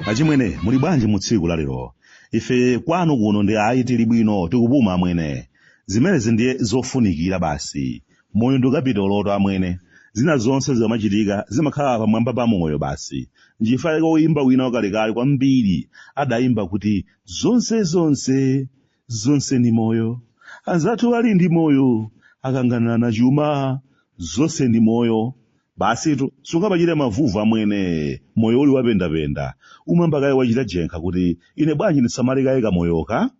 achimwene muli bwanji mu tsiku la lero ife kwanu kuno ndi ayi tili bwino tikupuma amwene zimenezi ndiye zofunikira basi Moyo ndi kapitolotu amwene. Zina zonse zikamachitika zimakhala pamwamba pa moyo basi. N'chifukwa chake woimba wina wakalekale kwambiri adaimba kuti, Zonse zonse, zonse ndi moyo. Anzathu ali ndi moyo, akanganirana chuma, zonse ndi moyo. Basitu, sungamachite mavuvu amwene, moyo uli wapendapenda. Umayamba kaye wachita jenkha kuti, ine bwanji ndisamale kaye kamoyoka?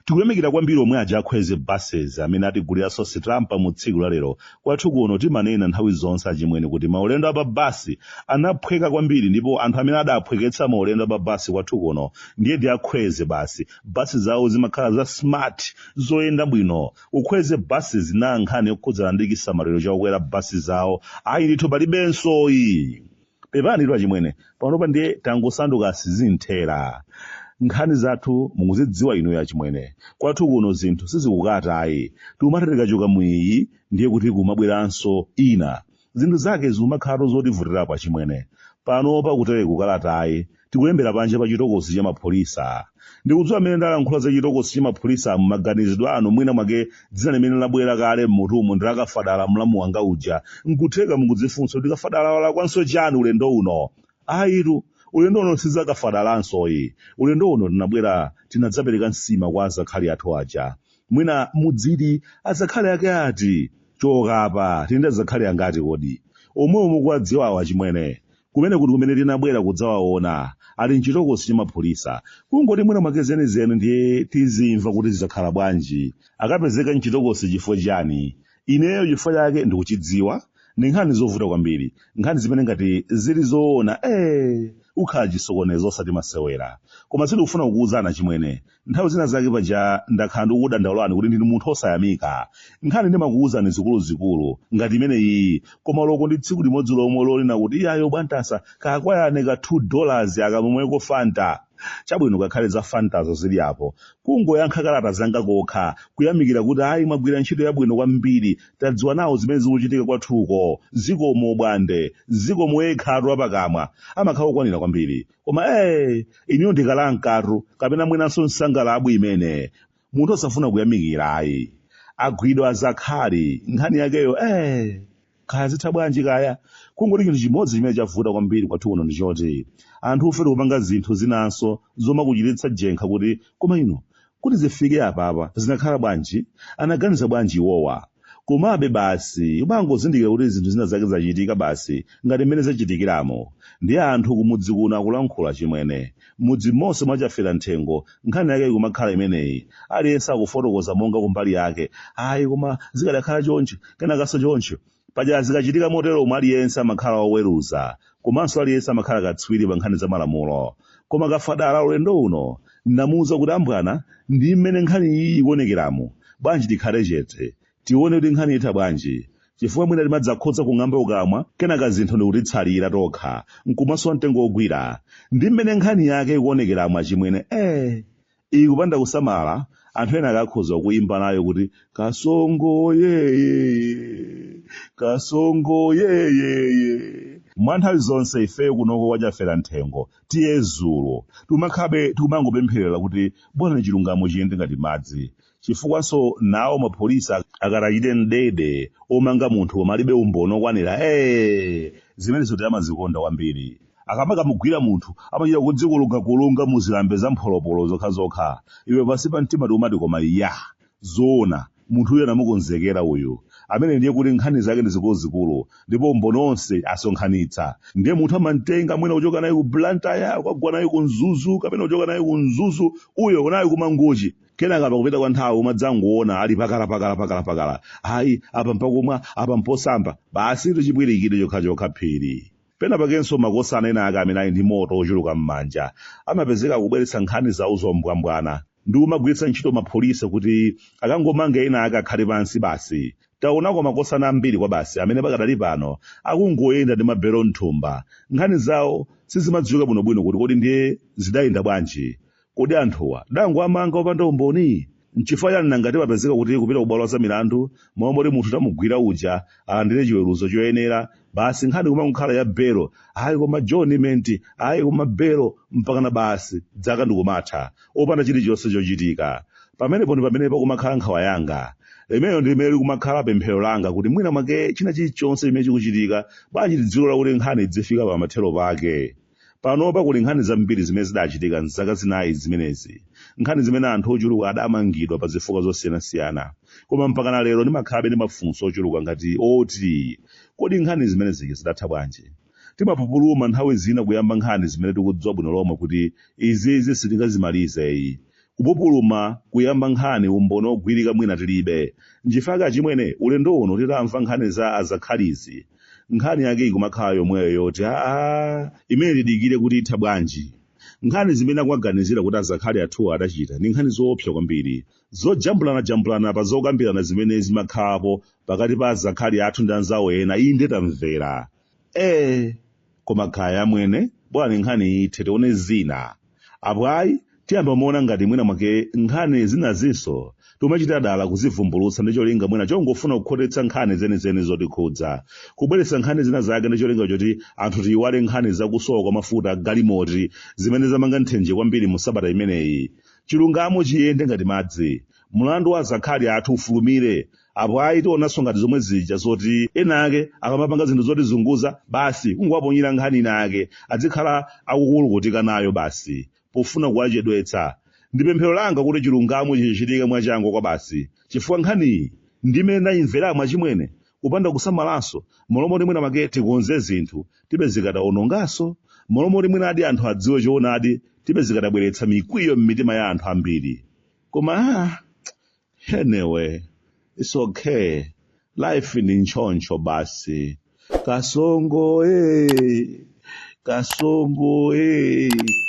Tikuyamikira kwambiri omwe aja a Khwezi Buses amene atiguliraso sitampa mu tsiku la lero. Kwathu kuno timanena nthawi zonse achimwene kuti maulendo a pa bus anaphweka kwambiri ndipo anthu amene adaphweketsa maulendo a pa bus kwathu kuno ndiye ndi a Khwezi basi. Bus zawo zimakhala za smart, zoyenda bwino. Ku Khwezi Buses na nkhani yokhudzana ndi chisamaliro cha okwera bus zawo, ayi ndithu palibensoyi. pepanitu achimwene panopa ndiye tangosanduka asizinthera nkhani zathu mukuzidziwa inuyo achimwene kwathu kuno zinthu sizikukata ayi tikumati tikachoka mwiyi ndiye kuti kumabweranso ina zinthu zake zikumakhalatu zotivutirapo achimwene panopa kutere kalatayi tikuyilembera panja pa chitokosi cha mapholisa ndikudziwa mmene ndalankhula za chitokosi cha mapholisa m'maganizidwe anu mwina mwake dzina limene labwera kale m'mutumu ndi lakafadala mlamu wanga uja nkutheka mukudzifunsa kuti kafadala walakwanso chani ulendo uno ayitu ulendo uno sizakafadalansoyi ulendo uno tinabwera tinadzapereka nsima kwa azakhali athu aja mwina mudziti azakhali ake ati chokapa tili ndi azakhali angati kodi omwe omwe mukuwadziwawo achimwene Kumeneku ndi kumene tinabwera kudzawaona. Ali m'chitokosi cha mapolisa. Kungoti mwina mwake zenizeni ndiye tizimva kuti zidakhala bwanji. Akapezeka m'chitokosi chifukwa chiyani? Ineyo chifukwa chake ndikuchidziwa. Ndi nkhani zovuta kwambiri. Nkhani zimene ngati zili zoona, ee! ukhala chisokonezo osati masewera. Koma sindikufuna kukuuzani achimwene. nthawi zina zake paja ndakhala ndikukudandaulirani kuti ndinu munthu osayamika nkhani ndimakuwuzani zikuluzikulu ngati imeneyiyi koma loko ndi tsiku limodzi lomwe lonena kuti iyayo bwantasa kakwayane ka 2 dollars akamweko fanta chabwino kakhale za fantazo zili apo kungoyankha kalata zanga kokha kuyamikira kuti ayi mwagwira ntchito yabwino kwambiri tadziwa nawo zimene zikuchitika kwathuko zikomo bwande zikomo yekhatu apakamwa amakhala okwanira kwambiri koma ee iniyo ndi kalankatu kapena mwinanso nsangalabwi imene munthu osafuna kuyamikira ayi agwidwa azakhali nkhani yakeyo ee kaya zitha bwanji kaya kungoti chinthu chimodzi chimene chavuta kwambiri kwathu kuno ndichoti anthufe tikupanga zinthu zinanso zomakuchititsa jenkha kuti koma ino Kuti zifike apapa zinakhala bwanji? Anaganiza bwanji iwowa? Komabe basi umangozindikira kuti zinthu zina zake zachitika basi ngati mmene zachitikiramu. Ndiye anthu kumudzi kuno akulankhula chimwene. M'mudzi monse mwa Chaferanthengo nkhani yake ikumakhala imeneyi. Aliyense akufotokoza monga kumbali yake. Ayi koma zikadakhala chonchi, kenakanso choncho. Paja zikachitika moteromu aliyense amakhala woweruza komanso aliyense amakhala katswiri pa nkhani za malamulo. Koma Kafadala ulendo uno ndamuuza kuti, Ambwana, ndi mmene nkhani iyi ikuonekeramu, bwanji tikhale chete, tione kuti nkhani itha bwanji. Chifukwa mwina timadzakhoza kung'amba kukamwa kenaka zinthu ndi kutitsalira tokha n'kumasowa mtengo wogwira. Ndi mmene nkhani yake ikuonekeramu achimwene, ee! Iyi kupanda kusamala, anthu ena akakhoza kuimba nayo kuti kasongo yeyeye, kasongo yeyeye. Mwa nthawi zonse ifeyo kunoko kwa Chafera Nthengo, tiye zulo, tikumakhalabe tikumangopempherera kuti bolani chilungamo chiyende ngati madzi. chifukwanso nawo mapolisi ak- akatachite mdede omanga munthu koma alibe umboni okwanira ee zimenezotu amazikonda kwambiri akakamugwira munthu amachita kudzimukulungakulunga mu zilambe za mpholopolo zokhazokha iwe pansi pa mtima n'kumati koma zoona munthu uyu anamukonzekera uyu ameneyu ndiye kuti nkhani zake ndi zikuluzikulu ndipo umboni onse asonkhanitsa ndiye munthu amamtenga mwina kuchoka naye ku blantyre kukagwa naye ku mzuzu kapena kuchoka naye ku mzuzu uyo naye ku mangochi kenaka pakupita kwa nthawi umadzangoona ali pakala pakala pakala pakala ayi apa mpakumwa apa mposamba basi ndi chipwirikiti chokhachokha phiri pena pakenso makosana ena ake amene ali ndi moto ochuluka m'manja amapezeka akubweretsa nkhani zawo zombwambwana ndi kumagwiritsa ntchito mapholisa kuti akangomanga ena ake akhale pansi basi taonako makosana ambiri kwa basi amene pakadali pano akungoyenda ndi mabelo mthumba nkhani zawo sizimadziwika bwinobwino kuti kodi ndiye zidayenda bwanji Kodi anthuwa adangowamanga opanda umboni? Nchifukwa chani nanga sipapezeka kuti kupita kubwalo la zamilandu momwe munthu tamugwira uja alandire chiweruzo choyenera basi nkhani kumangokhala ya belo ayi koma adjournment ayi koma belo mpakana basi dzaka ndikumatha opanda chilichonse chochitika. Pamenepo ndi pamene pakumakhala nkhawa yanga. Limenelo ndi limene likumakhala pemphero langa kuti mwina mwake china chilichonse chimene chikuchitika bwanji tidzilola kuti nkhani idzifika pamathero pake. Panopa kuli nkhani zambiri zimene zidachitika m'zaka zinayi zimenezi, nkhani zimene anthu ochuluka adamangidwa pa zifukwa zosiyanasiyana. Koma mpakana lero ndimakhalabe ndi mafunso ochuluka ngati oti, Kodi nkhani zimene zija zidatha bwanji? Timapupuluma nthawi zina kuyamba nkhani zimene tikudziwa bwino lomwe kuti izizi sitingazimalizeyi. Kupupuluma kuyamba nkhani umboni ogwirika mwina tilibe. Nchifake achimwene, ulendo uno titamva nkhani za Azakhalizi, nkhani yake ikumakhala yomweyo yoti aa imene tidikire kuti itha bwanji nkhani zimene akuwaganizira kuti azakhali athuwa adachita ndi nkhani zoopsa kwambiri zojambulanajambulana pa zokambirana zimene zimakhalapo pakati pa azakhali athu ndi anzawo ena inde tamvera ee koma kaya amwene bwanji nkhani ithe tione zina apo ayi tiyamba kumaona ngati mwina mwake nkhani zinazinso timachita dala kuzivumbulutsa ndi cholinga mwina chongofuna kukhotetsa nkhani zenizeni zotikhudza kubweretsa nkhani zina zake ndi cholinga choti anthu tiyiwale nkhani zakusowa kwa mafuta a galimoti zimene zamanga nthenje kwambiri mu sabata imeneyi chilungamo chiyende ngati madzi mlandu wa azakhali athu ufulumire apo ayi tionanso ngati zomwe zija zoti ena ake akamapanga zinthu zotizunguza basi kungowaponyera nkhani ina ake adzikhala akukulukutika nayo basi pofuna kuwachedwetsa ndi pemphero langa kuti chilungamo chichitike mwachangu kwabasi chifukwa nkhaniyi ndimene ndayimveramu achimwene kupanda kusamalanso m'malo moti mwina mwake tikonze zinthu tipezeka tawononganso m'malo moti mwinadi anthu adziwe choonadi tipezeka tabweretsa mikwiyo m'mitima ya anthu ambiri koma ah, Anyway, it's okay. Life ni nchoncho basi. Kasongo eh. Kasongo eh.